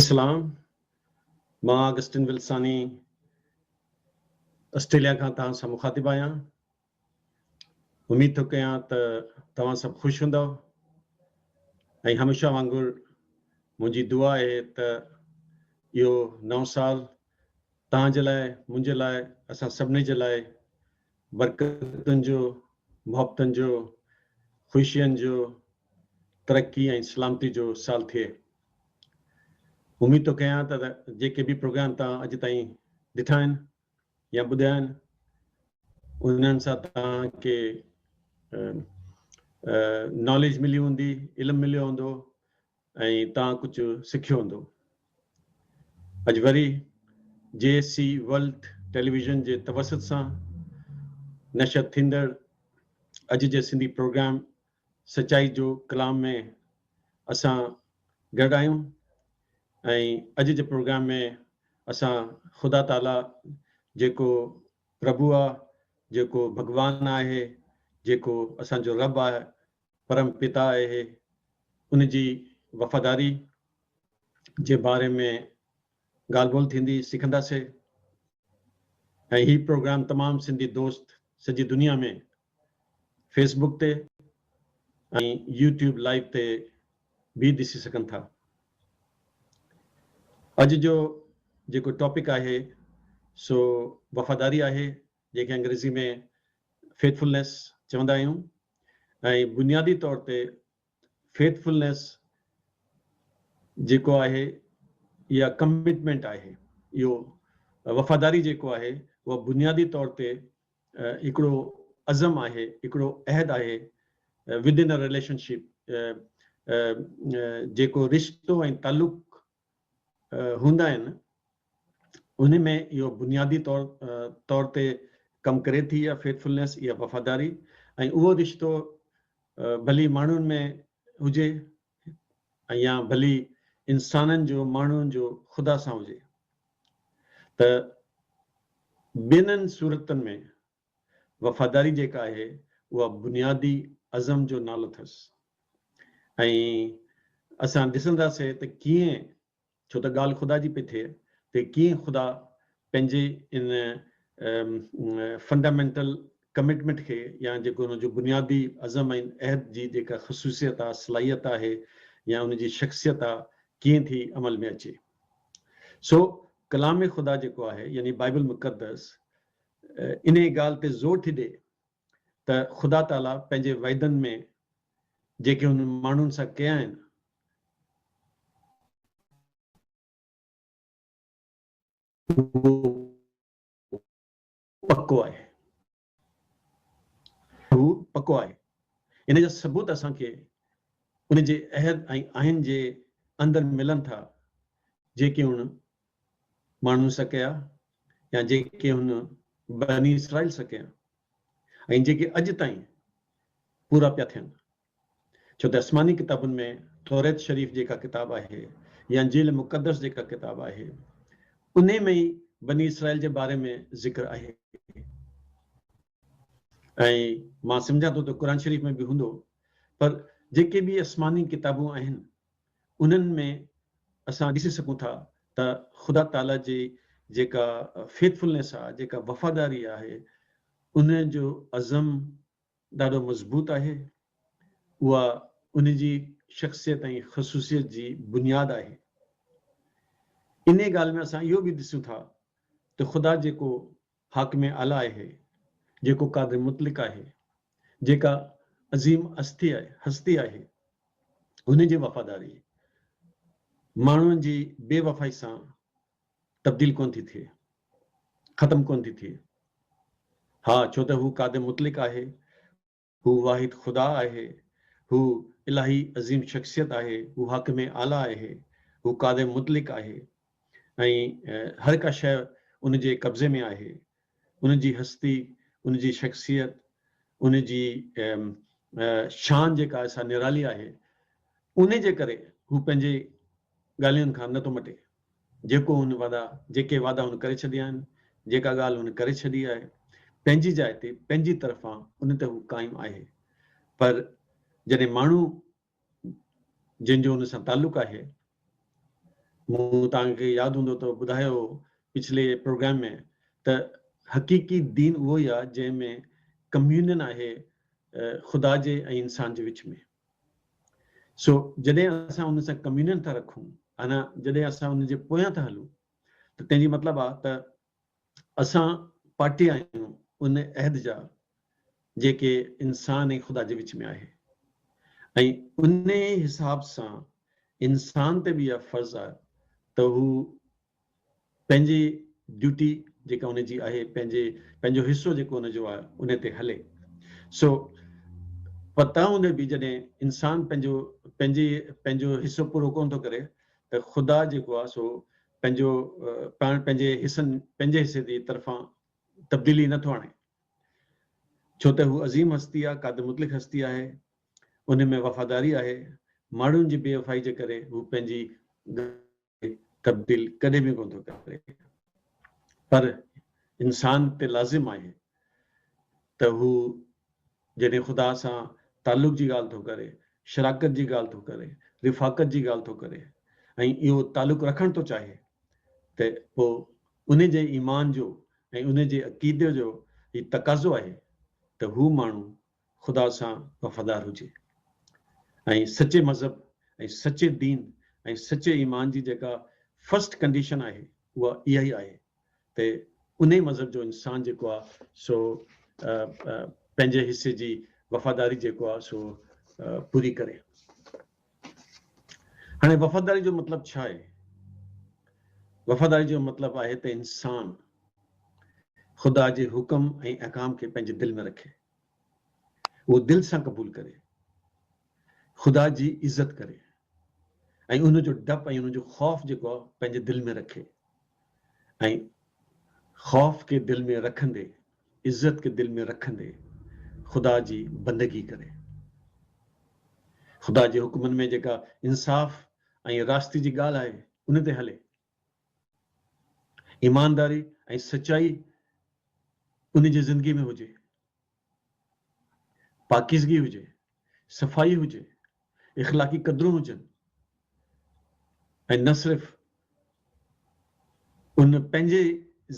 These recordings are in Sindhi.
اسلام مان آگسٽن ولساني آسٽريليا کان توهان سان مخاطب آهيان اميد ٿو ڪيان ته توهان سڀ خوش هوندو ۽ هميشه وانگر منهنجي دعا آهي ته اهو نئون سال توهان جي لاء منهنجي لاء اسان سڀني جي لاء برڪتن جو، محبتن جو، خوشين جو، ترقي ۽ سلامتي جو سال ٿئي. اميد ٿو ڪيان ته جيڪي به پروگرام توهان اڄ تائين ڏٺا آهن يا ٻڌيا آهن انهن سان توهان کي ناليج ملي هوندي، علم مليو هوندو، ۽ تان ڪجهه سکيو هوندو. اڄ وري جي سي ورلڊ ٽيليويزن جي توسط سان نشر ٿيندڙ اڄ جي سنڌي پروگرام سچائي جو ڪلام ۾ اسان گڏ آهيون ۽ اڄ جي پروگرام ۾ اسان خدا تعاليٰ جيڪو پرڀو آ جيڪو ڀڳوان آهي جيڪو اسان جو رب آهي پرم پتا اهي ان جي وفاداري جي باري ۾ ڳالهه ٻولهه ٿيندي سکنداسي ۽ هي پروگرام تمام سنڌي دوست سڄي دنيا ۾ فيس بوڪ تي ۽ يو ٽيوب لائيو تي به ڏسي سگهن ٿا اڄ جو جيڪو ٽاپڪ آهي سو وفاداري آهي جنهن کي انگريزي ۾ Faithfulness چوندا آهيون ۽ بنيادي طور تي Faithfulness جيڪو آهي يا Commitment آهي اهو وفاداري جيڪو آهي اهو بنيادي طور تي هڪڙو عزم آهي هڪڙو عهد آهي Within a Relationship جيڪو رشتو ۽ تعلق هوندا آهن انهن ۾ اهو بنيادي طور طور تي ڪم ڪري ٿي يا Faithfulness يا وفاداري ۽ اهو رشتو ڀلي ماڻهن ۾ هجي يا ڀلي انسانن جو ماڻهن جو خدا سان هجي ته ٻنهن صورتن ۾ وفاداري جيڪا آهي اها بنيادي عزم جو نالو اٿس ۽ اسان ڏسنداسين ته ڪيئن ڇو ته ڳالهه خدا جي پئي ٿئي ته ڪيئن خدا پنهنجي ان فنڊامينٽل ڪمٽمينٽ کي يا جيڪو ان جو بنيادي عزم ۽ عهد جي جيڪا خصوصيت آهي صلاحيت آهي يا ان جي شخصيت آهي ڪيئن ٿي عمل ۾ اچي سو ڪلام خدا جيڪو آهي يعني بائبل مقدس انهيء ڳالهه تي زور ٿي ڏئي ته خدا تعاليٰ پنهنجي وعدن ۾ جيڪي هن ماڻهن سان ڪيا آهن، اهو پڪو آهي. اهو پڪو آهي. ان جا ثبوت اسان کي ان جي عهد ۽ آئين جي اندر ملن ٿا، جيڪي هن ماڻهو سڪيا يا جيڪي هن بني اسرائيل سڪيا ۽ جيڪي اڄ تائين پورا پيا ٿين ڇو ته اسماني ڪتابن ۾ توريت شريف جيڪا ڪتاب آهي يا انجيل مقدس جيڪا ڪتاب آهي انهي ۾ ئي بني اسرائيل جي باري ۾ ذڪر آهي ۽ مان سمجهان ٿو ته قرآن شريف ۾ به هوندو پر جيڪي به اسماني ڪتابون آهن انهن ۾ اسان ڏسي سگهون ٿا ته خدا تعاليٰ جي جيڪا Faithfulness آهي، جيڪا وفاداري آهي، ان جو عزم ڏاڍو مضبوط آهي. اها ان جي شخصيت ۽ خصوصيت جي بنياد آهي. انهيء ڳالهه ۾ اسان اهو به ڏسون ٿا ته خدا جيڪو حاڪم اعليٰ اهي، جيڪو قادر مطلق آهي، جيڪا عظيم هستي هستي آهي، هن جي وفاداري ماڻهن جي بي وفائي سان تبديل ڪونه ٿي ٿئي، ختم ڪونه ٿي ٿئي. ها، ڇو ته هو قادر مطلق آهي. هو واحد خدا آهي. هو الاهي عظيم شخصيت آهي. هو حاڪم اعليٰ آهي. هو قادر مطلق آهي ۽ هر ڪا شيء ان جي قبضي ۾ آهي. ان جي هستي، ان جي شخصيت، ان جي شان جيڪا آهي سا نرالي آهي. انهي جي ڪري هو پنهنجي ڳالهين کان نه ٿو مٽي. جيڪو هن وعدا، جيڪي وعدا هن ڪري ڇڏيا آهن، جيڪا ڳالهه هن ڪري ڇڏي آهي، پنهنجي جاء تي، پنهنجي طرفان ان تي هو قائم آهي. پر جڏهن ماڻهو جن جو هن سان تعلق آهي، مون توهان کي ياد هوندو ته ٻڌايو هو پڇلي پروگرام ۾ ته حقيقي دين اهو ئي آهي جنهن ۾ ڪميونين آهي خدا جي ۽ انسان جي وچ ۾. سو جڏهن اسان ان سان ڪميونين ٿا رکون انا جڏهن اسان ان جي پويان ٿا هلون ته تنهن جي مطلب آ ته اسان پارٽي آهيون ان عهد جا جيڪي انسان ۽ خدا جي وچ ۾ آهي ۽ انهي حساب سان انسان تي به اها فرض آ ته هو پنهنجي ڊيوٽي جيڪا ان جي آهي، پنهنجي پنهنجو حصو جيڪو ان جو آهي ان تي هلي. سو پتان هوندي به جڏهن انسان پنهنجو پنهنجي پنهنجو حصو پورو ڪونه ٿو ڪري ته خدا جيڪو آهي سو پنهنجو پاڻ پنهنجي حصن پنهنجي حصي جي طرفان تبديلي نه ٿو آڻي. ڇو ته هو عظيم هستي آهي، قادر مطلق هستي آهي، ان ۾ وفاداري آهي، ماڻهن جي بي وفائي جي ڪري هو پنهنجي تبديل ڪڏهن به ڪونه ٿو ڪري پر انسان تي لازم آهي ته هو جڏهن خدا سان تعلق جي ڳالهه ٿو ڪري، شراڪت جي ڳالهه ٿو ڪري، رفاقت جي ڳالهه ٿو ڪري ۽ اهو تعلق رکڻ ٿو چاهي ته پوء ان جي ايمان جو ۽ ان جي عقيدي جو هي تقاضو آهي ته هو ماڻهو خدا سان وفادار هجي ۽ سچي مذهب ۽ سچي دين ۽ سچي ايمان جي جيڪا فرسٽ ڪنڊيشن آهي اها اها ئي آهي ته انهي مذهب جو انسان جيڪو آهي سو پنهنجي حصي جي وفاداري جيڪو آهي سو پوري ڪري هاڻي وفاداري جو مطلب ڇا آهي وفاداري جو مطلب آهي ته انسان خدا جي حڪم ۽ احڪام کي پنهنجي دل ۾ رکي اهو دل سان قبول ڪري، خدا جي عزت ڪري ۽ ان جو ڊپ ۽ ان جو خوف جيڪو آهي پنهنجي دل ۾ رکي ۽ خوف کي دل ۾ رکندي، عزت کي دل ۾ رکندي خدا جي بندگي ڪري. خدا جي حڪمن ۾ جيڪا انصاف ۽ راستي جي ڳالهه آهي ان تي هلي. ايمانداري ۽ سچائي ان جي زندگي ۾ هجي، پاڪيزگي هجي، صفائي هجي، اخلاقي قدرون هجن ۽ نه صرف ان پنهنجي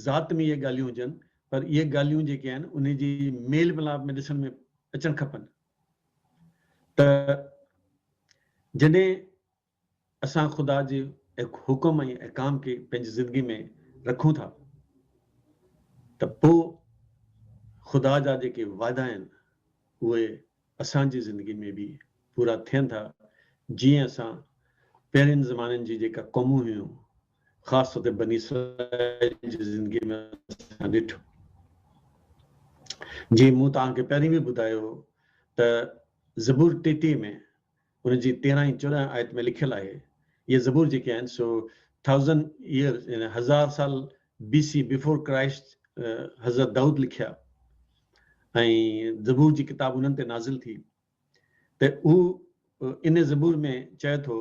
ذات ۾ اهي ڳالهيون هجن پر اهي ڳالهيون جيڪي آهن ان جي ميل ملاپ ۾ ڏسڻ ۾ اچڻ کپن ته جڏهن اسان خدا جي حڪم ۽ احڪام کي پنهنجي زندگي ۾ رکون ٿا ته پوء خدا جا جيڪي وعدا آهن اهي اسان جي زندگي ۾ به پورا ٿين ٿا جيئن اسان پهرين زمانن جي جيڪا قومون هيون خاص طور تي بني اسرائيل جي زندگي ۾ اسان ڏٺو جيئن مون توهان کي پهرين به ٻڌايو هو ته زبور ٽيٽيهه ۾ ان جي تيرهن ۽ چوڏهن آيت ۾ لکيل آهي، اهي زبور جيڪي آهن سو Thousand Years يعني هزار سال BC Before Christ حضرت دائود لکيا ۽ زبور جي ڪتاب انهن تي نازل ٿي ته هو ان زبور ۾ چئي ٿو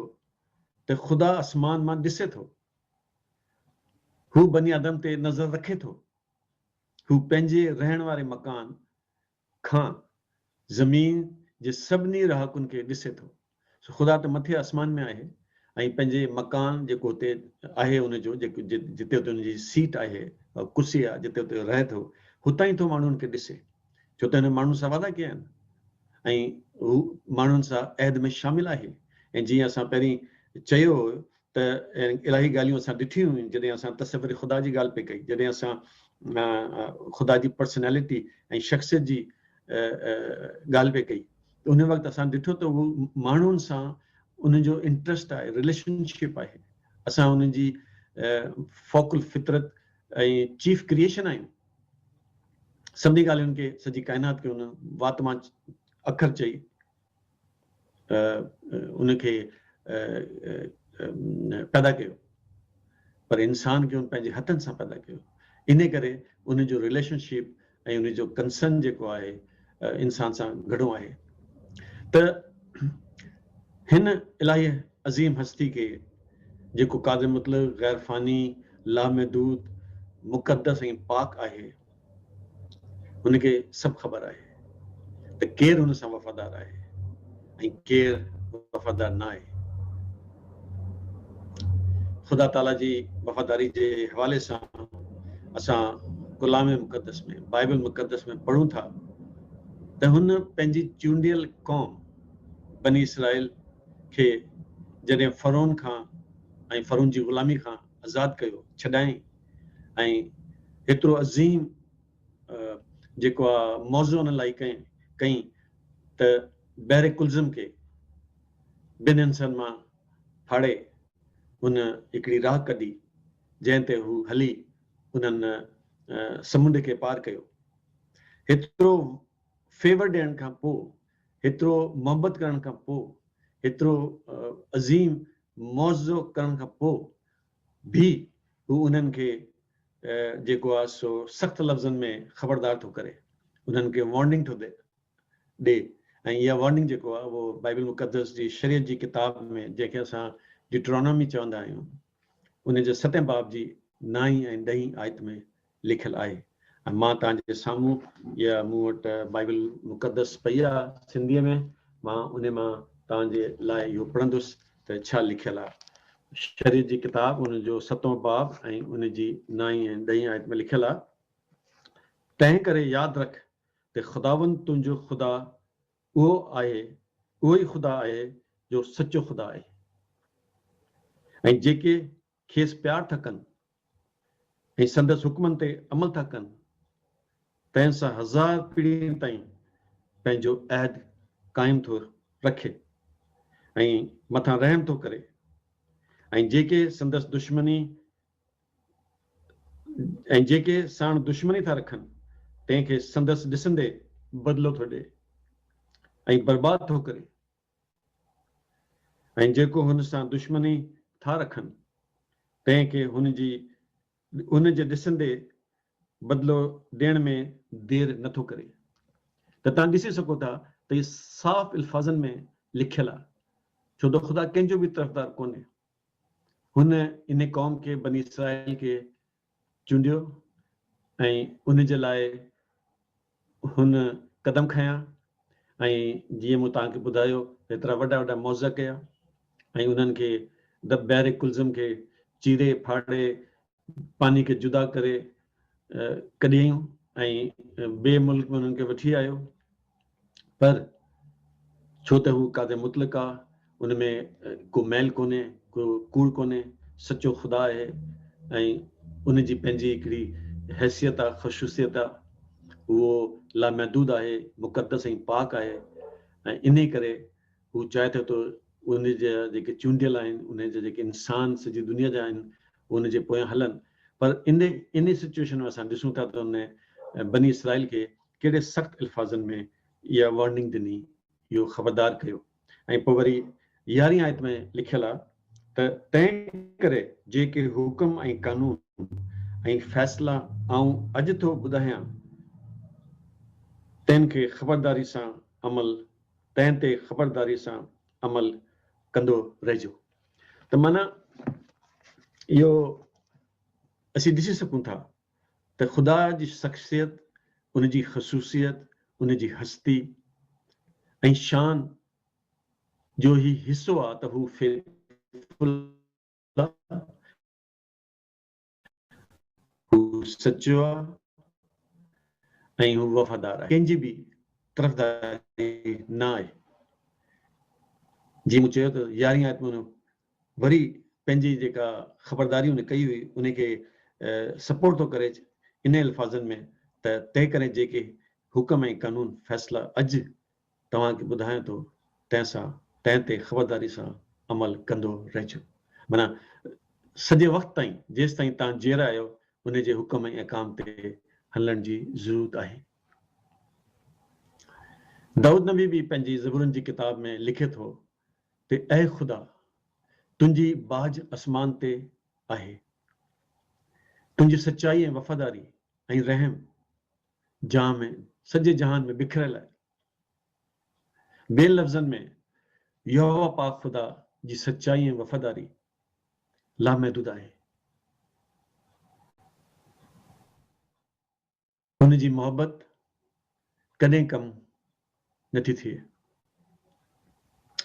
ته خدا آسمان مان ڏسي ٿو هو بني آدم تي نظر رکي ٿو هو پنهنجي رهڻ واري مڪان کان زمين جي سڀني رهاڪن کي ڏسي ٿو. سو خدا ته مٿي آسمان ۾ آهي ۽ پنهنجي مڪان جيڪو هتي آهي ان جو جتي هتي ان جي سيٽ آهي، ڪرسي آهي جتي هتي رهي ٿو، هتان ئي ٿو ماڻهن کي ڏسي. ڇو ته هن ماڻهن سان وعدا ڪيا آهن ۽ هو ماڻهن سان عهد ۾ شامل آهي ۽ جيئن اسان پهرين چيو هو ته الاهي ڳالهيون اسان ڏٺيون هيون جڏهن اسان تصور خدا جي ڳالهه پئي ڪئي جڏهن اسان خدا جي پرسنالٽي ۽ شخصيت جي ڳالهه پئي ڪئي ته ان وقت اسان ڏٺو ته هو ماڻهن سان ان جو انٽرسٽ آهي رليشن شپ آهي اسان ان جي فوڪل فطرت ۽ چيف ڪريشن آهيون سڀني ڳالهين کي سڄي ڪائنات کي ان وات مان اکر چئي ان کي پيدا ڪيو پر انسان کي ان پنهنجي هٿن سان پيدا ڪيو ان ڪري ان جو ريليشن شپ ۽ ان جو ڪنسرن جيڪو آهي انسان سان گهڻو آهي ته هن الاهي عظيم هستي کي جيڪو قادر مطلب غير فاني لامحدود مقدس ۽ پاڪ آهي هن کي سڀ خبر آهي ته ڪير هن سان وفادار آهي ۽ ڪير وفادار نه آهي. خدا تعاليٰ جي وفاداري جي حوالي سان اسان ڪلام مقدس ۾ بائبل مقدس ۾ پڙهون ٿا ته هن پنهنجي چونڊيل قوم بني اسرائيل کي جڏهن فرعون کان ۽ فرعون جي غلامي کان آزاد ڪيو ڇڏائين ۽ ايترو عظيم جيڪو آ موضوع انهن لاء ڪئين ڪئين ته بحر ڪلزم کي ٻن حصن مان ڦاڙي هن هڪڙي راهه ڪڍي جنهن تي هو هلي انهن سمنڊ کي پار ڪيو. هيترو فيور ڏيڻ کان پوء، هيترو محبت ڪرڻ کان پوء، هيترو عظيم موضوع ڪرڻ کان پوء به هو انهن کي جيڪو آهي سو سخت لفظن ۾ خبردار ٿو ڪري، انهن کي وارننگ ٿو ڏي ۽ اها وارننگ جيڪو آهي اهو بائيبل مقدس جي شريعت جي ڪتاب ۾ جنهن کي اسان ڊيٽرانامي چوندا آهيون ان جي ستين باب جي نائين ۽ ڏهين آيت ۾ لکيل آهي ۽ مان توهان جي سامهون اها مون وٽ بائيبل المقدس پئي آ سنڌيء ۾ مان انهي مان توهان جي لاء اهو پڙهندس ته ڇا لکيل آ. شريعت جي ڪتاب ان جو ستون باب ۽ ان جي نائين ۽ ڏهين آيت ۾ لکيل آ تنهن ڪري ياد رک ته خداوند تنهنجو خدا اهو آهي اهو ئي خدا آهي جو سچو خدا آهي ۽ جيڪي کيس پيار ٿا ڪن ۽ سندس حڪمن تي عمل ٿا ڪن، تنهن سان هزار پيڙهين تائين پنهنجو عهد قائم ٿو رکي ۽ مٿان رحم ٿو ڪري ۽ جيڪي سندس دشمني ۽ جيڪي ساڻ دشمني ٿا رکن تنهن کي سندس ڏسندي بدلو ٿو ڏئي ۽ برباد ٿو ڪري. ۽ جيڪو هن سان دشمني ٿا رکن، تنهن کي هن جي هن جي ڏسندي بدلو ڏيڻ ۾ دير نه ٿو ڪري ته توهان ڏسي سگهو ٿا ته هي صاف الفاظن ۾ لکيل آهي ڇو ته خدا ڪنهن جو به طرفدار ڪونهي هن ان قوم کي بني اسرائيل کي چونڊيو ۽ ان جي لاء هن قدم کنيا ۽ جيئن مون توهان کي ٻڌايو هيترا وڏا وڏا معجزا ڪيا ۽ انهن کي دب بحر قلزم کي چيري ڦاڙي پاني کي جدا ڪري ڪڍيائون ۽ ٻئي ملڪ ۾ انهن کي وٺي آيو پر ڇو ته هو ڪاڌي مطلق آ، ان ۾ ڪو ميل ڪونهي، ڪو ڪوڙ ڪونهي، سچو خدا آهي ۽ ان جي پنهنجي هڪڙي حيثيت آ، خصوصيت آ. اهو لامحدود آهي، مقدس ۽ پاڪ آهي ۽ انهي ڪري هو چاهي ٿو ته ان جا جيڪي چونڊيل آهن، ان جا جيڪي انسان سڄي دنيا جا آهن، اهي ان جي پويان هلن. پر انهي سچوئيشن ۾ اسان ڏسون ٿا ته ان بني اسرائيل کي ڪهڙي سخت الفاظن ۾ اها وارننگ ڏني اهو خبردار ڪيو ۽ پوء وري يارهين آيت ۾ لکيل آ ته تنهن ڪري جيڪي حڪم ۽ قانون ۽ فيصلا آئون اڄ ٿو ٻڌايان تن کي خبرداري سان عمل تنهن تي خبرداري سان عمل ڪندو رهجو ته معنيٰ اهو اسين ڏسي سگهون ٿا ته خدا جي شخصيت، ان جي خصوصيت، ان جي هستي ۽ شان جو هي حصو آ ته هو فيٿ فل آ، هو سچو آ ۽ هو وفادار آهي، ڪنهن جي به طرفداري نه آهي، جيئن مون چيو ته يارهين آيت ۾ وري پنهنجي جيڪا خبرداري ان ڪئي هئي انهي کي سپورٽ ٿو ڪري انهن الفاظن ۾ ته تنهنڪري جيڪي حڪم ۽ قانون فيصلا اڄ توهان کي ٻڌايان ٿو تنهن سان تنهن تي خبرداري سان عمل ڪندو رهجو معنيٰ سڄي وقت تائين جيستائين توهان جيئرا آهيو انهي جي حڪم ۽ احڪام تي هلڻ جي ضرورت آهي دائود نبي به پنهنجي زبورن جي ڪتاب ۾ لکي ٿو تي اي خدا! تنهنجي ٻاجهه اسمان تي آهي. تنهنجي سچائي ۽ وفاداري ۽ رحم جان ۾ سڄي جهان ۾ بکريل آهي. ٻين لفظن ۾ يهوه پاڪ خدا جي سچائي ۽ وفاداري لامحدود آهي. هن جي محبت ڪڏهن ڪم نه ٿي ٿئي.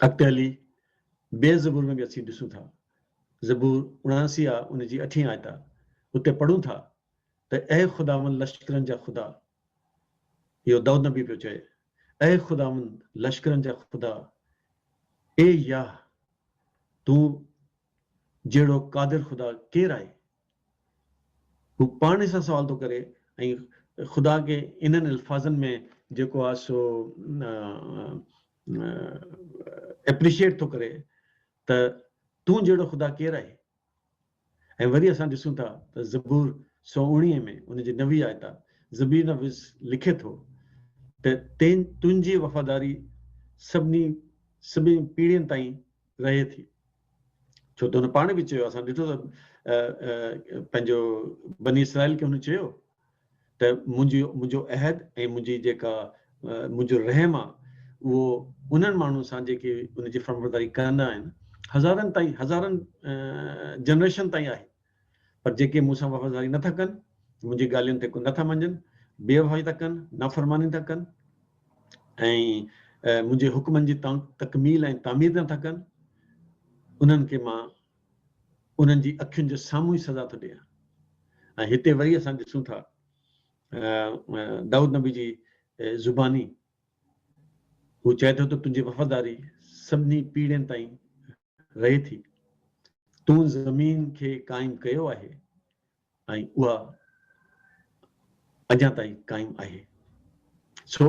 اڳتي هلي ٻين زبور ۾ به اسين ڏسون ٿا. زبور اڻاڻسي آ ان جي اٺين آيت آ. اتي پڙهون ٿا ته اي خداوند لشڪرن جا خدا. اهو دائود نبي پيو چئي. اي خداوند لشڪرن جا خدا، اي ياهه، تون جهڙو قادر خدا ڪير آهي؟ هو پاڻ سان سوال ٿو ڪري ۽ خدا کي انهن الفاظن ۾ جيڪو آهي سو اپريشيئيٽ ٿو ڪري ته تون جهڙو خدا ڪير آهي ۽ وري اسان ڏسون ٿا ته زبور سو اوڻيهه ۾ ان جي نوي آيت آ زبير نويس لکي ٿو ته تين تنهنجي وفاداري سڀني سڀني پيڙهين تائين رهي ٿي ڇو ته هن پاڻ به چيو اسان ڏٺو ته پنهنجو بني اسرائيل کي هن چيو ته منهنجي منهنجو عهد ۽ منهنجي جيڪا منهنجو رحم آ اهو انهن ماڻهن سان جيڪي ان جي فرمبرداري ڪندا آهن هزارن تائين هزارن جنريشن تائين آهي پر جيڪي مون سان وفاداري نه ٿا ڪن، منهنجي ڳالهين تي نه ٿا مڃن، بي وفائي ٿا ڪن، نافرماني ٿا ڪن ۽ منهنجي حڪمن جي تڪميل ۽ تعمير نه ٿا ڪن، انهن کي مان انهن جي اکين جي سامهون ئي سزا ٿو ڏيان. ۽ هتي وري اسان ڏسون ٿا دائود نبي جي زباني هو چئي ٿو ته تنهنجي وفاداري سڀني پيڙهين تائين رهي ٿي. تون زمين کي قائم ڪيو آهي ۽ اها اڃا تائين قائم آهي. سو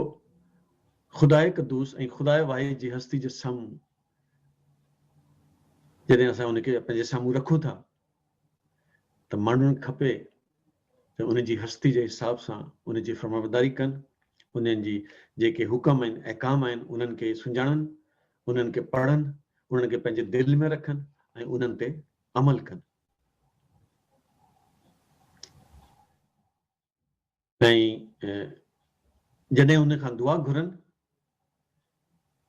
خداء قدوس ۽ خداء واحد جي هستي جي سامهون جڏهن اسان ان کي پنهنجي سامهون رکون ٿا ته ماڻهن کپي ته ان جي هستي جي حساب سان ان جي فرمانبرداري ڪن، انهن جي جيڪي حڪم ۽ احڪام آهن انهن کي سڃاڻن انهن کي پڙهن، انهن کي پنهنجي دل ۾ رکن ۽ انهن تي عمل ڪن. ۽ جڏهن ان کان دعا گهرن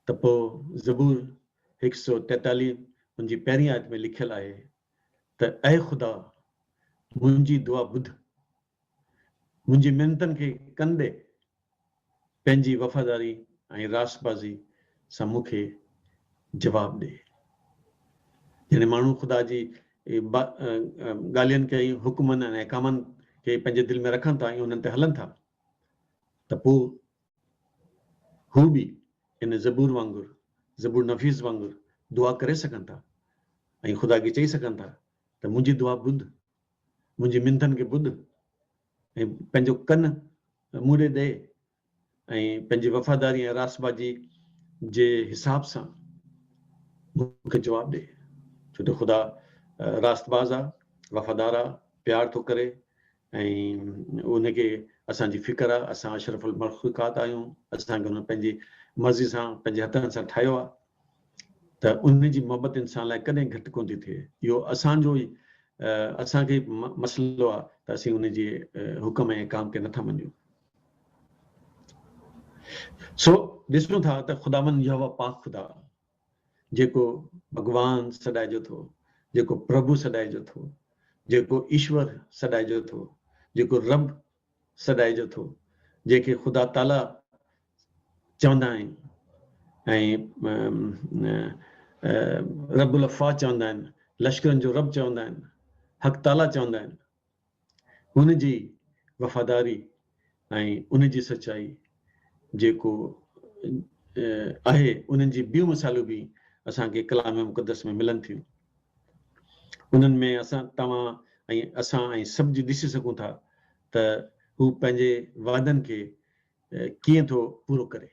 ته پوء زبور هڪ سؤ ٽيتاليهه ان جي پهرين آيت ۾ لکيل آهي ته اي خدا منهنجي دعا ٻڌ، منهنجي منتن کي ڪن ڏي پنهنجي وفاداري ۽ راستبازي سان مون کي جواب ڏي. يعني ماڻهو خدا جي ڳالهين کي ۽ حڪمن ۽ احڪامن کي پنهنجي دل ۾ رکن ٿا ۽ انهن تي هلن ٿا ته پوء هو به ان زبور وانگر، زبور نفيس وانگر دعا ڪري سگهن ٿا ۽ خدا کي چئي سگهن ٿا ته منهنجي دعا ٻڌ منهنجي منٿن کي ٻڌ ۽ پنهنجو ڪن مون ڏي ڏي ۽ پنهنجي وفاداري ۽ راستبازي جي حساب سان مون کي جواب ڏي، ڇو ته خدا راستباز آ، وفادار آ، پيار ٿو ڪري ۽ ان کي اسان جي فڪر آ، اسان اشرف المخلوقات آهيون، اسان کي هن پنهنجي مرضي سان پنهنجي هٿن سان ٺاهيو آ. ته ان جي محبت انسان لاء ڪڏهن گهٽ ڪونه ٿي ٿئي. اهو اسان جو ئي اسان کي ئي مسئلو آهي ته اسين ان جي حڪم ۽ احڪام کي نٿا مڃون. سو ڏسون ٿا ته خداوند يهوه پاڪ خدا جيڪو ڀڳوان سڏائجو ٿو، جيڪو پرڀو سڏائجو ٿو، جيڪو ايشور سڏائجو ٿو، جيڪو رب سڏائجو ٿو جنهن کي خدا تعاليٰ چوندا آهن ۽ رب الافواج چوندا آهن لشڪرن جو رب چوندا آهن حق تعاليٰ چوندا آهن هن جي وفاداري ۽ ان جي سچائي جيڪو آهي انهن جي ٻيون مثالون به اسان کي ڪلام مقدس ۾ ملن ٿيون. انهن ۾ اسان توهان ۽ اسان ۽ سڀ جي ڏسي سگهون ٿا ته هو پنهنجي وعدن کي ڪيئن ٿو پورو ڪري.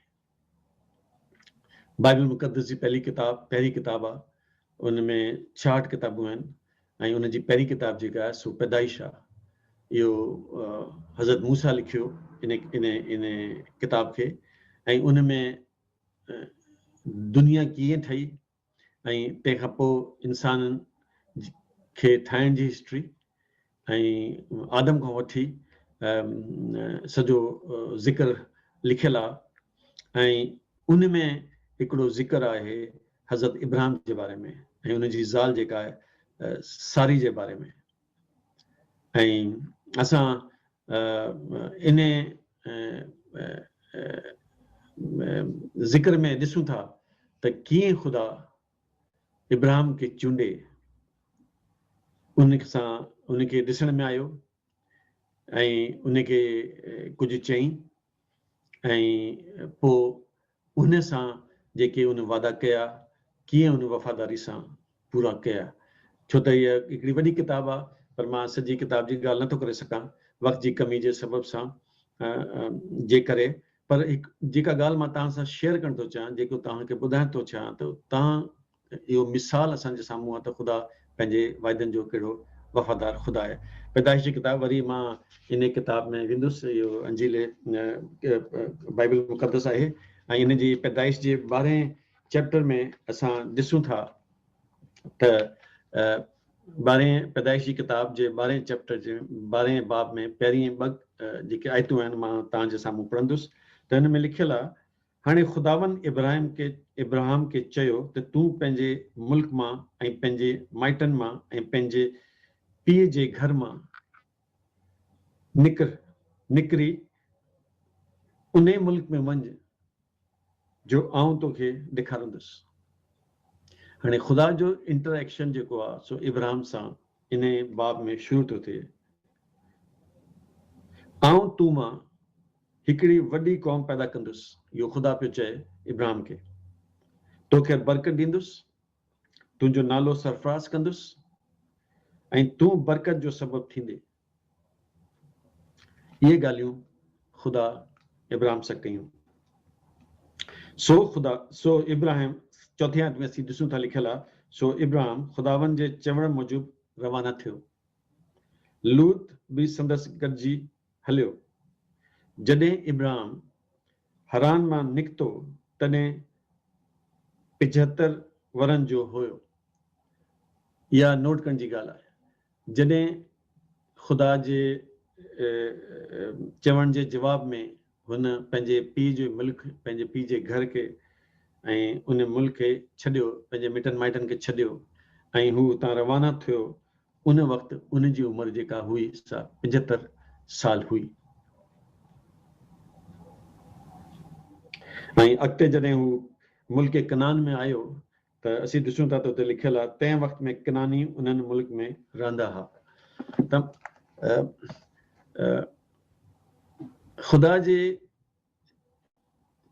بائبل مقدس جي پهلي ڪتاب پهرين ڪتاب آهي ان ۾ ڇاهٺ ڪتابون آهن ۽ ان جي پهرين ڪتاب جيڪا آهي سو پيدائش آهي. اهو حضرت موسيٰ لکيو ان ان ان ڪتاب کي ۽ ان ۾ دنيا ڪيئن ٺهي ۽ تنهن کان پوء انسانن کي ٺاهڻ جي هسٽري ۽ آدم کان وٺي سڄو ذڪر لکيل آهي ۽ ان ۾ هڪڙو ذڪر آهي حضرت ابراهيم جي باري ۾ ۽ ان جي زال جيڪا آهي ساري جي باري ۾ ۽ اسان ان ذڪر ۾ ڏسون ٿا ته ڪيئن خدا ابراهيم کي چونڊي ان سان ان کي ڏسڻ ۾ آيو ۽ ان کي ڪجهه چئي ۽ پوء انهن سان جيڪي ان وعدا ڪيا ڪيئن ان وفاداري سان پورا ڪيا ڇو ته هيء هڪڙي وڏي ڪتاب آ پر مان سڄي ڪتاب جي ڳالهه نٿو ڪري سگهان وقت جي ڪمي جي سبب سان جي ڪري پر هڪ جيڪا ڳالهه مان توهان سان شيئر ڪرڻ ٿو چاهيان جيڪو توهان کي ٻڌائڻ ٿو چاهيان ته توهان اهو مثال اسان جي سامهون آهي ته خدا پنهنجي وعدن جو ڪهڙو وفادار خدا آهي. پيدائش جي ڪتاب وري مان ان ڪتاب ۾ ويندس، اهو انجيل بائبل مقدس آهي ۽ ان جي پيدائش جي ٻارهين چيپٽر ۾ اسان ڏسون ٿا ته ٻارهين پيدائش جي ڪتاب جي ٻارهين چيپٽر جي ٻارهين باب ۾ پهرين ٻه جيڪي آيتون آهن مان توهان جي سامهون پڙهندس ته هن ۾ لکيل آهي هاڻي خداوند ابراهيم کي ابرهام کي چيو ته تون پنهنجي ملڪ مان ۽ پنهنجي مائٽن مان ۽ پنهنجي پيء جي گهر مان نڪر نڪري انهي ملڪ ۾ وڃ جو آئون تو کي ڏيکارندس. هاڻي خدا جو انٽر ايڪشن جيڪو آ سو ابرهام سان انهي باب ۾ شروع ٿو ٿئي آئون تو مان هڪڙي وڏي قوم پيدا ڪندس، اهو خدا پيو چئي ابراهم کي، توکي برڪت ڏيندس، تنهنجو نالو سرفراز ڪندس ۽ تون برڪت جو سبب ٿيندي. اهي ڳالهيون خدا ابراهم سان ڪيون. سو خدا، سو ابراهم، چوٿين آيت ۾ اسين ڏسون ٿا لکيل آ، سو ابراهم خداوند جي چوڻ موجب روانا ٿيو. لوط به سندس گڏجي هليو. جڏهن ابراهم حران مان نڪتو تڏهن پنجهتر ورهن جو هيو. اها نوٽ ڪرڻ جي ڳالهه آهي. جڏهن خدا جي چوڻ جي جواب ۾ هن پنهنجي پيء جو ملڪ، پنهنجي پيء جي گهر کي ۽ ان ملڪ کي ڇڏيو، پنهنجي مٽن مائٽن کي ڇڏيو ۽ هو اتان روانا ٿيو، ان وقت ان جي عمر جيڪا هئي سا پنجهتر سال هئي ۽ اڳتي جڏهن هو ملڪ ڪنعان ۾ آيو ته اسين ڏسون ٿا ته اتي لکيل آهي تنهن وقت ۾ ڪنعاني انهن ملڪ ۾ رهندا ها ته خدا جي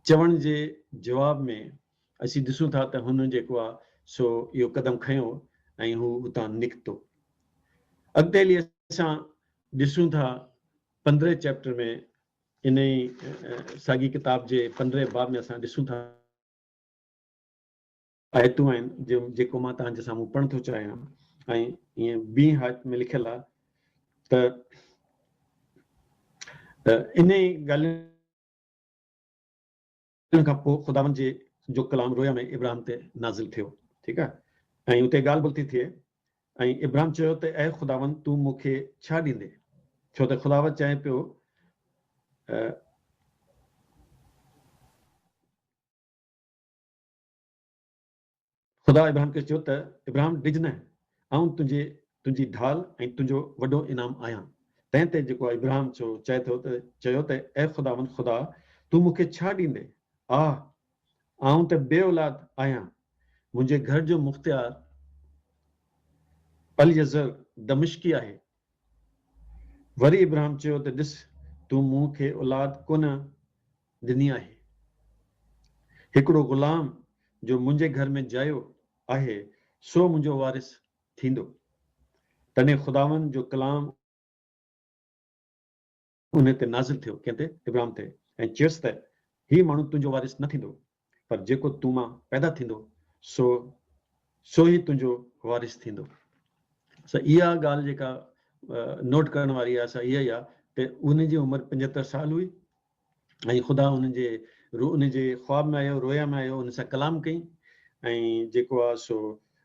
چوڻ جي جواب ۾ اسين ڏسون ٿا ته هن جيڪو آهي سو اهو قدم کنيو ۽ هو اتان نڪتو. اڳتي هلي اسان ڏسون ٿا پندرهين چيپٽر ۾ انهي ساڳي ڪتاب جي پندرهين باب ۾ اسان ڏسون ٿا. آيتون آهن جيڪو مان توهان جي سامهون پڙهڻ ٿو چاهيان ۽ ائين بي هايت ۾ لکيل آهي ته انهي ڳالهين ان کان پوء خداوند جي جو ڪلام رويا ۾ ابراهم تي نازل ٿيو، ٺيڪ آهي، ۽ اتي ڳالهه ٻولهه ٿي ٿئي، ۽ ابراهم چيو ته اي خداوند تون مون کي ڇا ڏيندين؟ ڇو ته خداوند چئي پيو ته. خدا ابراهيم کي چيو ته ابراهيم ڊڄنء، آئون تنهنجي تنهنجي ڍال ۽ تنهنجو وڏو انعام آهيان. تنهن تي جيڪو ابراهيم چيو چئي ٿو ته چيو ته اي خداوند خدا تون مون کي ڇا ڏيندين؟ آه! آئون ته بي اولاد آهيان. منهنجي گهر جو مختيار اليعزر دمشقي آهي، وري ابراهم چيو ته ڏس تون مون کي اولاد ڪونه ڏني آهي. هڪڙو غلام جو منهنجي گهر ۾ جايو آهي سو منهنجو وارث ٿيندو. تڏهن خداوند جو ڪلام. انهيء تي نازل ٿيو، ڪنهن تي؟ ابراهيم تي، ۽ چيس ته، هي ماڻهو تنهنجو وارث نه ٿيندو، پر جيڪو تو مان پيدا ٿيندو، سو سو ئي تنهنجو وارث ٿيندو. سو اها ڳالهه جيڪا نوٽ ڪرڻ واري آهي، سا اها ئي آهي ته انهن جي عمر پنجهتر سال هئي، ۽ خدا انهن جي روح انهن جي خواب ۾ آيو، رويا ۾ آيو، انهن سان ڪلام ڪيائين، ۽ جيڪو آهي سو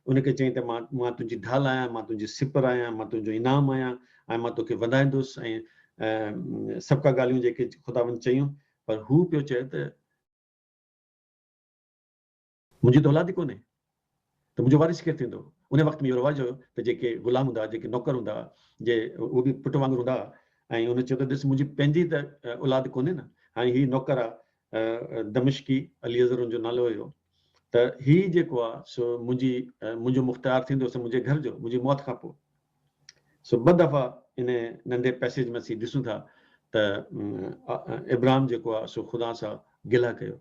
ان کي چيائين ته مان مان تنهنجي ڍال آهيان، مان تنهنجي سپر آهيان، مان تنهنجو انعام آهيان ۽ مان توکي وڌائيندس ۽ سڀ ڪا ڳالهيون جيڪي خداوند چيون پر هو پيو چئي ته منهنجي ته اولاد ئي ڪونهي ته منهنجو وارث ڪير ٿيندو ان وقت ۾ اهو رواج هو ته جيڪي غلام هوندا جيڪي نوڪر هوندا جي اهو به پٽ وانگر هوندا ۽ ان چيو ته ڏس منهنجي پنهنجي ته اولاد ڪونهي نه هاڻي هي نوڪر آ دمشقي عليزر ان جو نالو هيو ته هي جيڪو آ سو منهنجي منهنجو مختيار ٿيندو سو منهنجي گهر جو منهنجي موت کان پوء سو ٻه دفعا ان ننڍي پئسيج ۾ اسين ڏسون ٿا ته ابراهيم جيڪو آ سو خدا سان گله ڪيو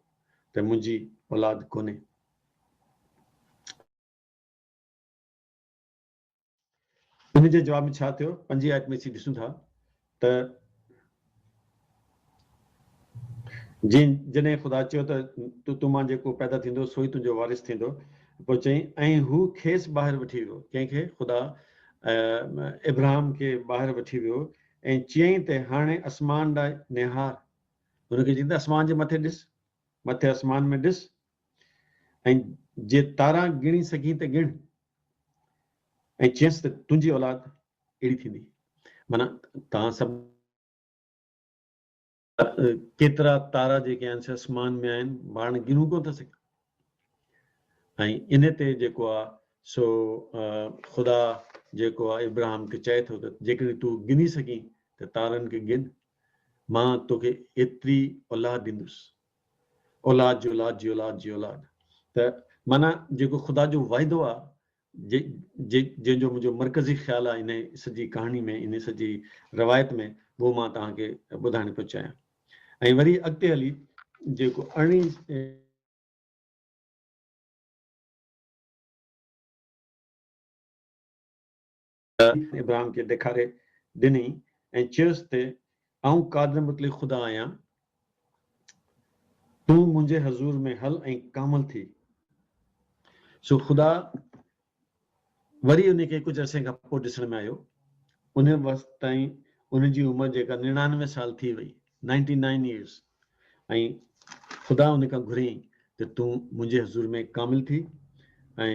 ته منهنجي اولاد ڪونهي ان جي جواب ۾ ڇا ٿيو؟ پنجين آيت ۾ اسين ڏسون ٿا ته جن جڏهن خدا چيو ته تو تو مان جيڪو پيدا ٿيندو سوئي تنهنجو وارث ٿيندو پوء چئي ۽ هو کيس ٻاهر وٺي ويو ڪنهن کي خدا ابراهام کي ٻاهر وٺي ويو ۽ چيائين ته هاڻي اسمان ڏانهن نهار هن کي چيائين ته اسمان جي مٿي ڏس مٿي اسمان ۾ ڏس ۽ جي تارا ڳڻي سگهين ته ڳڻ. ۽ چيس ته تنهنجي اولاد اهڙي ٿيندي. معنيٰ توهان سڀ. ڪيترا تارا جيڪي آهن سي اسمان ۾ آهن پاڻ ڳڻون ڪونه ٿا سگهيون. ۽ ان تي جيڪو آهي سو خدا جيڪو آهي ابراهيم کي چئي ٿو ته جيڪڏهن تون ڳڻي سگهين ته تارن کي ڳڻ مان توکي ايتري اولاد ڏيندس. اولاد جي اولاد جي اولاد جي اولاد ته معنيٰ جيڪو خدا جو وعدو آ جي جي جنهن جو منهنجو مرڪزي خيال آ انهي سڄي ڪهاڻي ۾ انهي سڄي روايت ۾ اهو مان توهان کي ٻڌائڻ پيو چاهيان ۽ وري اڳتي هلي جيڪو ارڙهين ابراهيم کي ڏيکاري ڏني ۽ چيس ته آئون قادر مطلق خدا آهيان، تون منهنجي حضور ۾ هل ۽ ڪامل ٿي. سو خدا وري ان کي ڪجهه عرصي کان پوء ڏسڻ ۾ آيو. ان وقت تائين ان جي عمر جيڪا نڙانوي سال ٿي وئي، Ninety Nine Years، ۽ خدا ان کان گهريائين ته تون منهنجي حضور ۾ ڪامل ٿي ۽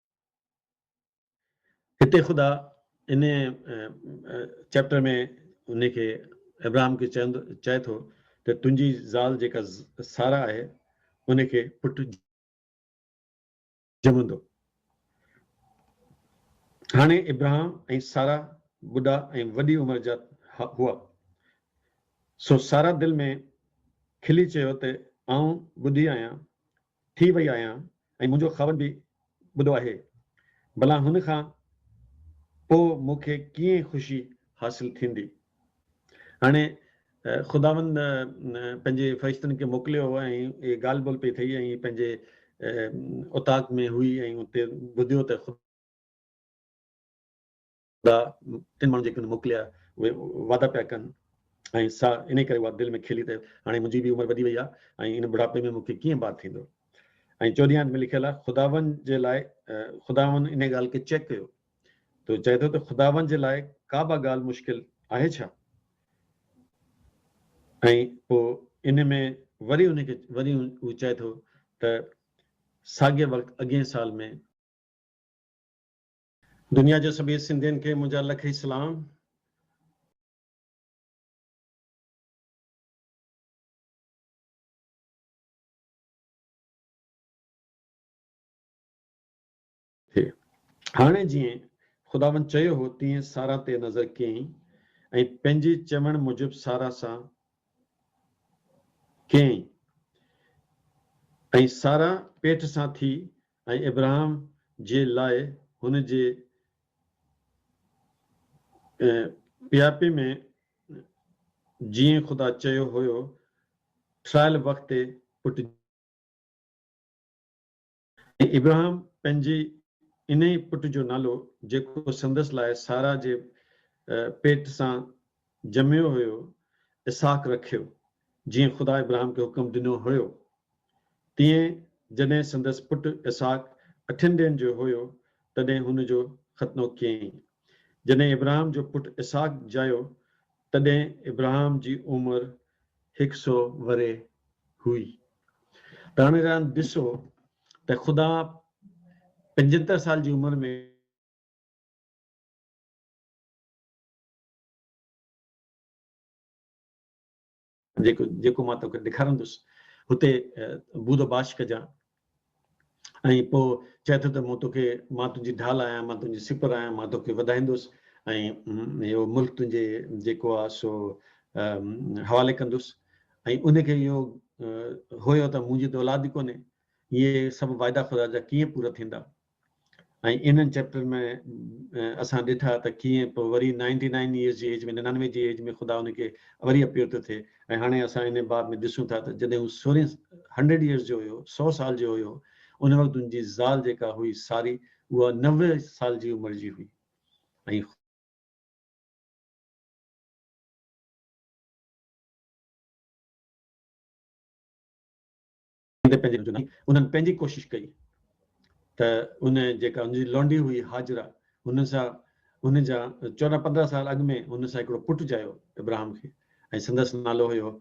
هتي خدا ان چئپٽر ۾ ان کي ابراهم کي چوندو چئي ٿو ته تنهنجي زال جيڪا سارا آهي ان کي پٽ ڄمندو هاڻي ابراهم ۽ سارا ٻڍا ۽ وڏي عمر جا هئا سو سارا دل ۾ کلي چيو ته آئون ٻڍي آهيان ٿي وئي آهيان ۽ منهنجو خاوند به ٻڏو آهي، ڀلا هن کان پوء مون کي ڪيئن خوشي حاصل ٿيندي؟ هاڻي خداوند پنهنجي فرشتن کي موڪليو هو ۽ اهي ڳالهه ٻولهه پئي ٿئي ۽ هي پنهنجي اوطاق ۾ هئي ۽ اتي ٻڌيو ته خدا تن ماڻهن جيڪي هن موڪليا اهي وعدا پيا ڪن ۽ سا انهي ڪري اها دل ۾ کيلي ته هاڻي منهنجي به عمر وڏي وئي آهي ۽ ان بڙهاپي ۾ مون کي ڪيئن بار ٿيندو ۽ چوڏهين آيت ۾ لکيل آهي خداوند جي لاء خداوند انهي ڳالهه کي چيڪ ڪيو تو چئي ٿو ته خداوند جي لاء ڪابه ڳالهه مشڪل آهي ڇا ۽ پوء ان ۾ وري ان کي وري هو چئي ٿو ته ساڳي وقت اڳين سال ۾ دنيا جي سڀيئي سنڌين کي منهنجا لکئي سلام. ٿئي. هاڻي جيئن خداوند چيو هو تيئن سارا تي نظر ڪيائين ۽ پنهنجي چوڻ موجب سارا سان ڪيائين ۽ سارا پيٽ سان ٿي ۽ ابراهم جي لاء هن جي پياپي ۾ جيئن خدا چيو هيو، ٺھرايل وقت تي پٽ جنم ۽ ابراهم پنھنجي انھيء پٽ جو نالو جيڪو سندس لاء سارا جي پيٽ سان جميو هيو، اسحاق رکيو، جيئن خدا ابراهم کي حڪم ڏنو هيو. تيئن جڏهن سندس پٽ اسحاق اٺن ڏينهن جو هيو، تڏهن هن جو ختنو ڪيائين. جڏهن ابراهام جو پٽ اسحاق ڄائيو، تڏهن ابراهام جي عمر هڪ سؤ ورهيه هئي. ته هاڻي راند ڏسو ته خدا پنجهتر سال جي عمر ۾. جيڪو جيڪو مان توکي ڏيکارندس اتي بود باش ڪجان ۽ پوء چئي ٿو ته مون توکي مان تنهنجي ڍال آهيان مان تنهنجي سپر آهيان مان توکي وڌائيندس ۽ اهو ملڪ تنهنجي جيڪو آهي سو حوالي ڪندس ۽ ان کي اهو هيو ته منهنجي ته اولاد ئي ڪونهي اهي سڀ واعدا خدا جا ڪيئن پورا ٿيندا ۽ انهن چيپٽرن ۾ اسان ڏٺا ته ڪيئن پوء وري نائنٽي نائن ييئرس جي ايج ۾ ننانوي جي ايج ۾ خدا ان کي وري اپيئر ٿو ٿئي ۽ هاڻي اسان انهي باب ۾ ڏسون ٿا ته جڏهن هو سورهين هنڊريڊ ييئرس جو هيو سؤ سال جو هيو ان وقت ان جي زال جيڪا هئي ساري اها نوي سال جي عمر جي هئي ۽ تي پنهنجي نظر ناهي، انهن پنهنجي ڪوشش ڪئي ته ان جيڪا ان جي لونڊي هئي هاجره هن سان ان جا چوڏهن پندرهن سال اڳ ۾ هن سان هڪڙو پٽ ڄايو ابراهم کي ۽ سندس نالو هيو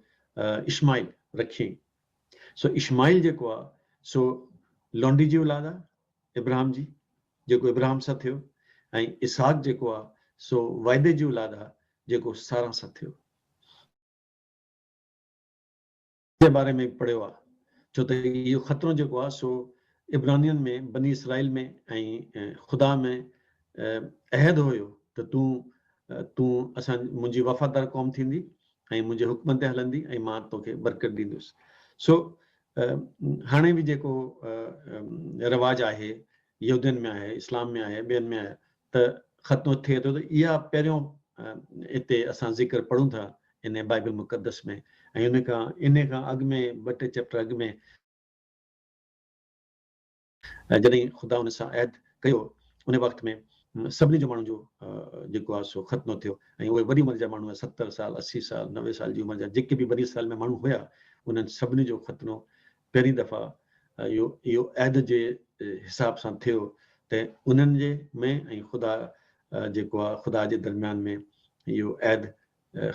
اشماعيل رکيئين سو اشماعيل جيڪو آ سو لونڊي جي اولاد آ ابراهم جي جيڪو ابراهم سان ٿيو ۽ اسحاق جيڪو آ سو وعدي جي اولاد آ جيڪو سارا سان ٿيو. جي باري ۾ پڙهيو آهي ڇو ته اهو خطرو جيڪو آهي سو عبرانين ۾ بني اسرائيل ۾ ۽ خدا ۾ عهد هيو ته تون تون اسان منهنجي وفادار قوم ٿيندي ۽ منهنجي حڪمن تي هلندي ۽ مان توکي برڪت ڏيندس سو هاڻي به جيڪو رواج آهي يهودين ۾ آهي اسلام ۾ آهي ٻين ۾ آهي ته ختم ٿئي ٿو ته اها پهريون اتي اسان ذڪر پڙهون ٿا ان بائبل مقدس ۾ ۽ ان کان ان کان اڳ ۾ ٻه ٽي چيپٽر اڳ ۾ جڏهن خدا ان سان عهد ڪيو ان وقت ۾ سڀني جو ماڻهن جو جيڪو آهي سو ختم ٿيو ۽ اهي وڏي عمر جا ماڻهو ستر سال اسي سال نوي سال جي عمر جا جيڪي به بني اسرائيل ۾ ماڻهو هيا انهن سڀني جو ختنو پهرين دفعا اهو اهو عهد جي حساب سان ٿيو ته انهن جي ۾ ۽ خدا جيڪو آهي خدا جي درميان ۾ اهو عهد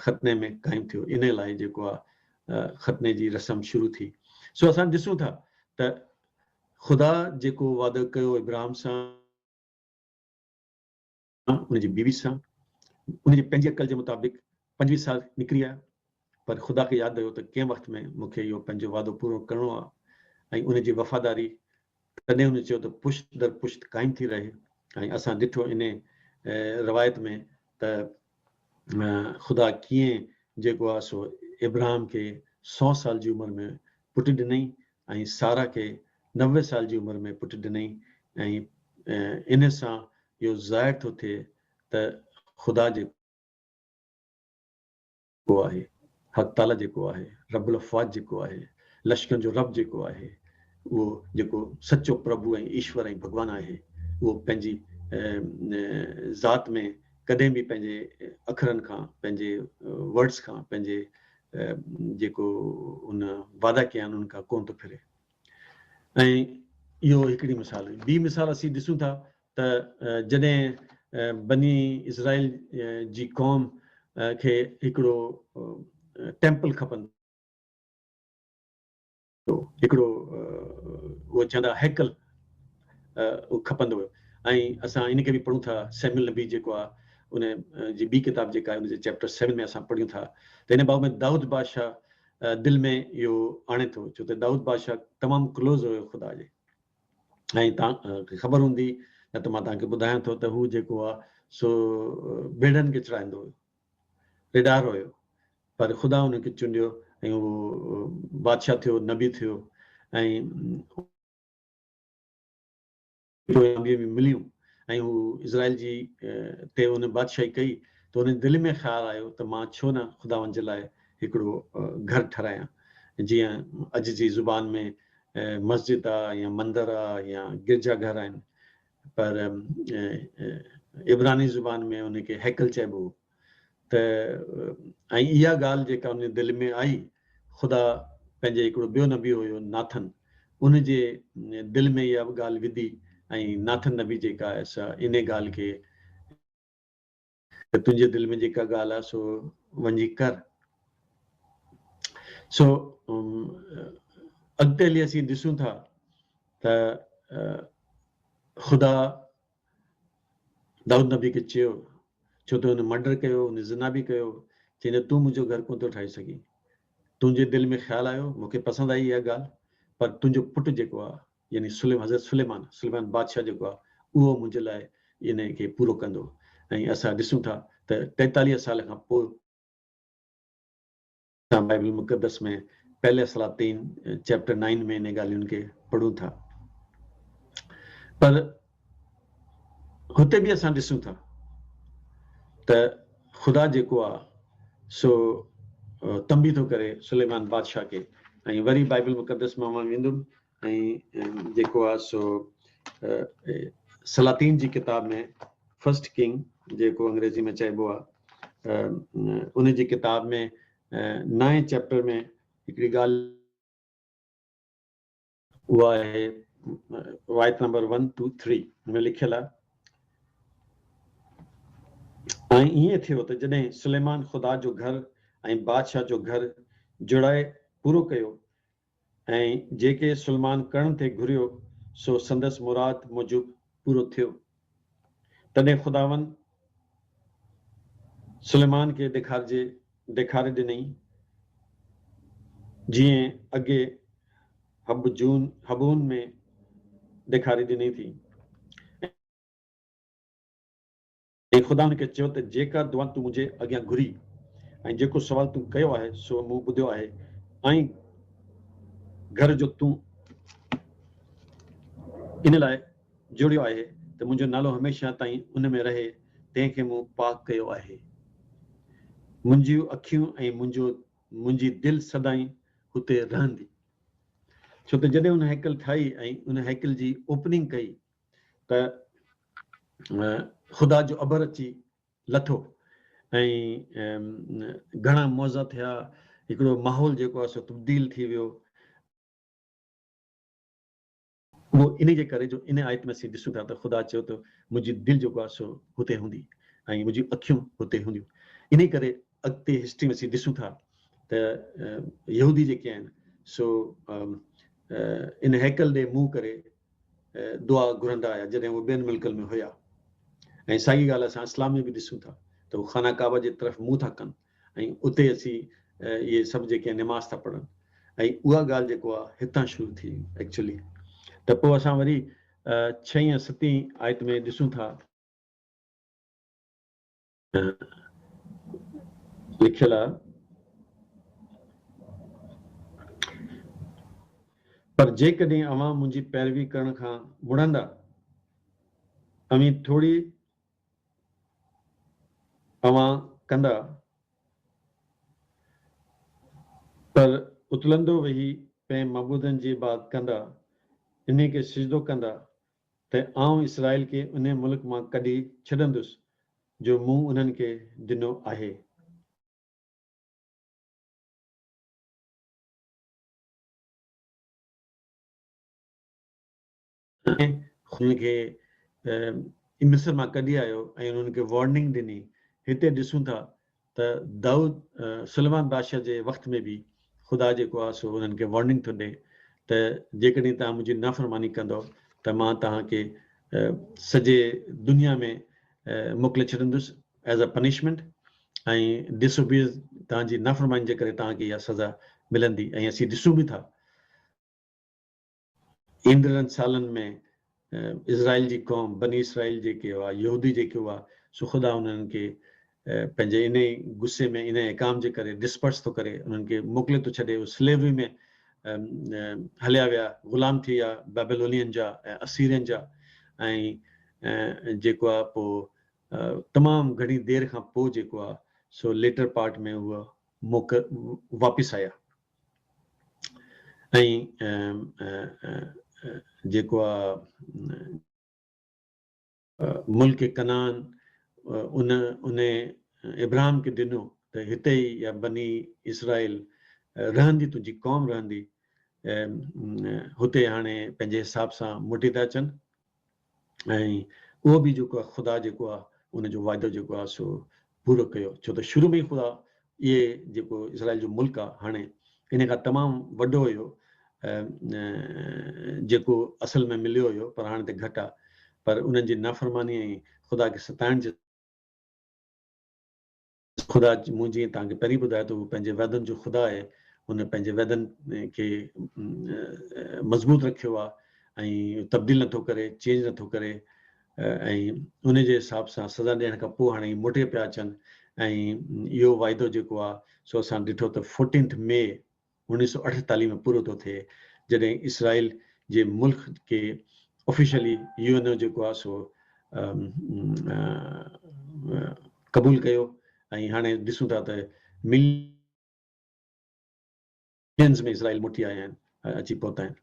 ختني ۾ قائم ٿيو انهي لاء جيڪو آهي ختني جي رسم شروع ٿي سو اسان ڏسون ٿا ته خدا جيڪو وعدو ڪيو ابراهم سان مان ان جي بيوي سان ان جي پنهنجي عقل جي مطابق پنجويهه سال نڪري آيو پر خدا کي ياد رهيو ته ڪنهن وقت ۾ مون کي اهو پنهنجو وعدو پورو ڪرڻو آهي ۽ ان جي وفاداري تڏهن ان چيو ته پشت در پشت قائم ٿي رهي ۽ اسان ڏٺو ان روايت ۾ ته خدا ڪيئن جيڪو آهي سو ابراهام کي سو سال جي عمر ۾ پٽ ڏنئي ۽ سارا کي نوي سال جي عمر ۾ پٽ ڏنئي ۽ ان سان اهو ظاهر ٿو ٿئي ته خدا جيڪو آهي، حق تعاليٰ جيڪو آهي، رب الافواج جيڪو آهي، لشڪرن جو رب جيڪو آهي، اهو جيڪو سچو پرڀو ۽ ايشور ۽ ڀڳوان آهي، اهو پنهنجي ذات ۾ ڪڏهن به پنهنجي اکرن کان، پنهنجي Words کان، پنهنجي جيڪو هن وعدا ڪيا آهن انهن کان ڪونه ٿو ڦري. ۽ اهو هڪڙي مثال هئي. ٻي مثال اسين ڏسون ٿا ته جڏهن بني اسرائيل جي قوم کي هڪڙو ٽيمپل کپندو هو، هڪڙو اهو چوندا هئا هيڪل کپندو هو ۽ اسان ان کي به پڙهون ٿا سيميل نبي جيڪو آهي ان جي ٻي ڪتاب جيڪا آهي ان جي چيپٽر سيون ۾ اسان پڙهيون ٿا ته ان باب ۾ دائود بادشاهه دل ۾ اهو آڻي ٿو ڇو ته دائود بادشاهه تمام ڪلوز هيو خدا جي ۽ توهان کي خبر هوندي نه ته مان توهان کي ٻڌايان ٿو ته هو جيڪو آهي سو ڀيڙن کي چڙهائيندو هيو ريڊار هيو پر خدا ان کي چونڊيو ۽ اهو بادشاهه ٿيو نبي ٿيو ۽ پوء آنڌيء ۾ مليون ۽ هو اسرائيل جي تي ان بادشاهي ڪئي ته هن جي دل ۾ خيال آيو ته مان ڇو نه خداوند جي لاء هڪڙو گهر ٺهرايان، جيئن اڄ جي زبان ۾ مسجد آ يا مندر آ يا گرجا گهر آهن، پر عبراني زبان ۾ ان کي هيڪل چئبو هو. ته ۽ اها ڳالهه جيڪا ان جي دل ۾ آئي، خدا پنهنجي هڪڙو ٻيو نبي هيو ناٿن، ان جي دل ۾ اها ڳالهه وڌي ۽ ناٿن نبي جيڪا آهي سا ان ڳالهه کي، ته تنهنجي دل ۾ جيڪا ڳالهه آهي سو وڃي ڪر، سو اڳتي هلي اسين ڏسون ٿا ته خدا دائود نبي کي چيو، ڇو تو هن مرڊر ڪيو، هن زنا به ڪيو، چئين ته تون منهنجو گهر ڪونه ٿو ٺاهي سگهين. تنهنجي دل ۾ خيال آيو، مون کي پسند آئي اها ڳالهه، پر تنهنجو پٽ جيڪو آ، يعني سليم حضرت سليمان، سليمان بادشاهه جيڪو آ، اهو منهنجي لاء انهيء کي پورو ڪندو ۽ اسان ڏسون ٿا ته ٽيتاليهه سال کان پوء، اسان بائيبل مقدس ۾ پهلي سلاطين چيپٽر نائن ۾ انهن ڳالهين کي پڙهون ٿا پر هتي به اسان ڏسون ٿا ته خدا جيڪو آهي سو تنبي ٿو ڪري سليمان بادشاهه کي ۽ وري بائيبل مقدس مان مان ويندم ۽ جيڪو آ سو سلاطين جي ڪتاب ۾ فرسٽ ڪنگ جيڪو انگريزي ۾ چئبو آ ان جي ڪتاب ۾ نائين چيپٽر ۾ هڪڙي ڳالهه اها آهي وايت نمبر ون ٽو ٿري ۾ لکيل آ ۽ ائين ٿيو ته جڏهن سليمان خدا جو گهر ۽ بادشاهه جو گهر جڙائي پورو ڪيو ۽ جيڪي سلمان ڪرڻ تي گهريو سو سندس مراد موجب پورو ٿيو. تڏهن خداوند سليمان کي ڏيکارجي ڏيکاري ڏنئي، جيئن اڳي حبجون، حبعون، ۾ ڏيکاري ڏني ٿي، ۽. ۽ خدا هن کي چيو ته جيڪا دعا تون منهنجي اڳيان گهري ۽ جيڪو سوال تون ڪيو آهي سو مون ٻڌيو آهي ۽ گهر جو تون ان لاء جوڙيو آهي ته منهنجو نالو هميشه تائين ان ۾ رهي تنهن کي مون پاڪ ڪيو آهي. منهنجيون اکيون ۽ منهنجو منهنجي دل سدائين هتي رهندي. ڇو ته جڏهن هن هيڪل ٺاهي ۽ ان هيڪل جي اوپننگ ڪئي ته خدا جو اڀر اچي لٿو ۽ گهڻا معزا ٿيا هڪڙو ماحول جيڪو آهي سو تبديل ٿي ويو. اهو انهي جي ڪري جو انهي آيت ۾ اسين ڏسون ٿا ته خدا چيو ته منهنجي دل جيڪو آهي سو هتي هوندي ۽ منهنجون اکيون هتي هونديون انهي ڪري اڳتي هسٽري ۾ اسين ڏسون ٿا ته يهودي جيڪي آهن سو ان هيڪل ڏي منهن ڪري دعا گهرندا هيا جڏهن هو ٻين ملڪن ۾ هيا ۽ ساڳي ڳالهه اسان اسلام ۾ به ڏسون ٿا ته هو خانه ڪعبه جي طرف منهن ٿا ڪن ۽ اتي اچي اهي سڀ جيڪي نماز ٿا پڙهن ۽ اها ڳالهه جيڪو آ هتان شروع ٿي ايڪچولي ته پوء اسان وري ڇهين ستين آيت ۾ ڏسون ٿا لکيل آ پر جيڪڏهن اوهان منهنجي پيروي ڪرڻ کان مڙندا اوهين ٿوڙي اوهان ڪندا پر اتلندو ويهي پنهن معبودن جي عباد ڪندا انهي کي سجدو ڪندا ته آئون اسرائيل کي انهي ملڪ مان ڪڍي ڇڏندس، جو مون انهن کي ڏنو آهي. ۽ انهن کي مصر مان ڪڍي آيو ۽ انهن کي وارننگ ڏني، هتي ڏسون ٿا ته دائود سليمان بادشاهه جي وقت ۾ به خدا جيڪو آهي سو انهن کي وارننگ ٿو ڏئي ته جيڪڏهن توهان منهنجي نافرماني ڪندؤ ته مان توهان کي سڄي دنيا ۾ موڪلي ڇڏندس as a punishment ۽ disobeys توهان جي نافرماني جي ڪري توهان کي اها سزا ملندي ۽ اسين ڏسون به ٿا ايندڙن سالن ۾ اسرائيل جي قوم، بني اسرائيل جيڪي هئا، يهودي جيڪي هئا، سو خدا انهن کي پنهنجي انهيء غصي ۾ انهيء احڪام جي ڪري Disperse ٿو ڪري، انهن کي موڪلي ٿو ڇڏي، هو Slavery ۾ هليا ويا، غلام ٿي ويا بيبيلونين جا ۽ اسيرين جا ۽ جيڪو آ پوء تمام گهڻي دير کان پوء جيڪو آ سو Later Part ۾ هو موڪ واپس آيا. ۽ جيڪو آ ملڪ ڪنعان ان انهي ابراهم کي ڏنو ته هتي ئي يا بني اسرائيل رهندي تنهنجي قوم رهندي هتي هاڻي پنهنجي حساب سان موٽي ٿا اچن ۽ اهو به جيڪو آهي خدا جيڪو آهي ان جو وعدو جيڪو آهي سو پورو ڪيو ڇو ته شروع ۾ ئي خدا اهي جيڪو اسرائيل جو ملڪ آهي هاڻي ان کان تمام وڏو هيو جيڪو اصل ۾ مليو هيو پر هاڻي ته گهٽ آهي پر انهن جي نافرماني ۽ خدا کي ستائڻ جي خدا مون جيئن توهان کي پهرين ٻڌايو ته هو پنهنجي وعدن جو خدا آهي، هن پنهنجي وعدن کي مضبوط رکيو آهي ۽ تبديل نٿو ڪري، چينج نٿو ڪري ۽ ان جي حساب سان سزا ڏيڻ کان پوء هاڻي موٽي پيا اچن ۽ اهو وعدو جيڪو آهي سو اسان ڏٺو ته فورٽينٿ مئي انيس سؤ اٺيتاليهه ۾ پورو ٿو ٿئي جڏهن اسرائيل جي ملڪ کي آفيشلي يو اين او جيڪو آهي سو قبول ڪيو ۽ هاڻي ڏسون ٿا ته ملينز ۾ اسرائيل موٽي آيا آهن اچي پهتا آهن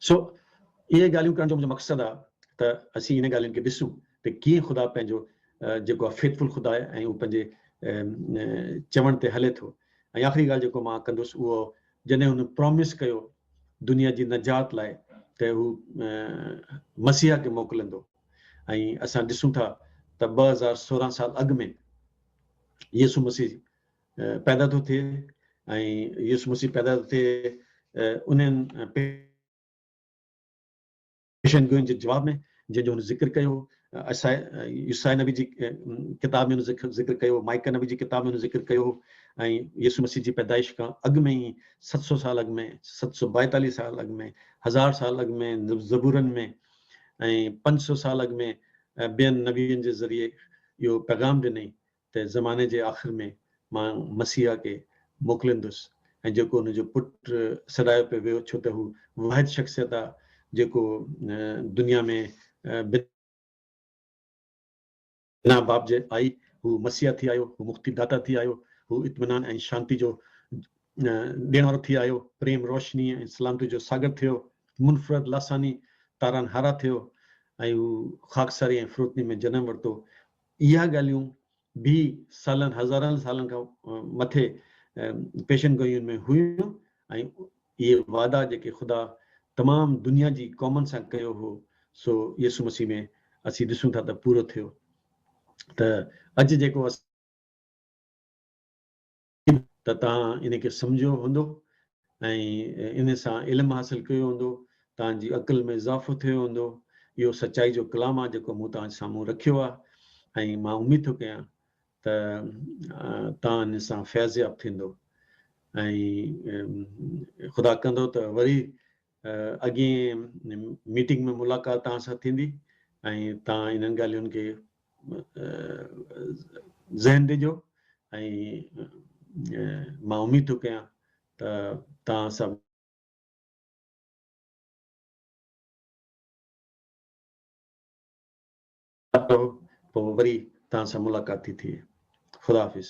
سو اهي ڳالهيون ڪرڻ جو منهنجو مقصد آهي ته اسين ان ڳالهين کي ڏسون ته ڪيئن خدا پنهنجو جيڪو آهي فيٿفل خدا آهي ۽ هو پنهنجي چوڻ تي هلي ٿو ۽ آخري ڳالهه جيڪو مان ڪندس اهو جڏهن هن پرامس ڪيو دنيا جي نجات لاء ته هو مسيح کي موڪلندو ۽ اسان ڏسون ٿا ته ٻه هزار سورهن سال اڳ ۾ يسوع مسيح پيدا ٿو ٿئي ۽ يسوع مسيح پيدا ٿو ٿئي انهن پيشن گوئين جي جواب ۾ جنهن جو هن ذڪر ڪيو هو، يسايا نبي جي ڪتاب ۾ هن ذڪر ڪيو هو، مائيڪا نبي جي ڪتاب ۾ هن ذڪر ڪيو هو ۽ يسوع مسيح جي پيدائش کان اڳ ۾ ئي ست سؤ سال اڳ ۾ ست سؤ ٻائيتاليهه سال اڳ ۾ هزار سال اڳ ۾ زبورن ۾ ۽ پنج سؤ سال اڳ ۾ ٻين نبين جي ذريعي اهو پيغام ڏنئي ته زماني جي آخر ۾ مان مسيحا کي موڪليندس ۽ جيڪو هن جو پٽ سڏايو پئي ويو ڇو ته هو واحد شخصيت آ جيڪو دنيا ۾ بنا باپ جي آئي، هو مسيحا ٿي آيو، هو مڪتي داتا ٿي آيو، هو اطمينان ۽ شانتي جو ڏيڻ وارو ٿي آيو، پريم، روشني ۽ سلامتي جو ساگر ٿيو، منفرد، لاثاني، تارانهارا ٿيو ۽ هو خاڪساري ۽ فروتني ۾ جنم ورتو، اها ڳالهيون به سالن هزارن سالن کان مٿي پيشن گوئين ۾ هيون ۽ اهي وعدا جيڪي خدا تمام دنيا جي قومن سان ڪيو هو سو يسوع مسيح ۾ اسين ڏسون ٿا ته پورو ٿيو ته اڄ جيڪو ته توهان ان کي سمجهيو هوندو ۽ ان سان علم حاصل ڪيو هوندو، توهان جي عقل ۾ اضافو ٿيو هوندو، اهو سچائي جو ڪلام آهي جيڪو مون توهان جي سامهون رکيو آهي ۽ مان اميد ٿو ڪيان ته توهان ان سان فيضياب ٿيندو ۽ خدا ڪندو ته وري اڳين ميٽنگ ۾ ملاقات توهان سان ٿيندي ۽ توهان انهن ڳالهين کي ذهن ڏجو ۽ مان اميد ٿو ڪيان ته توهان سڀ ٺاهيو پوء وري توهان سان ملاقات ٿي ٿئي. خدا حافظ.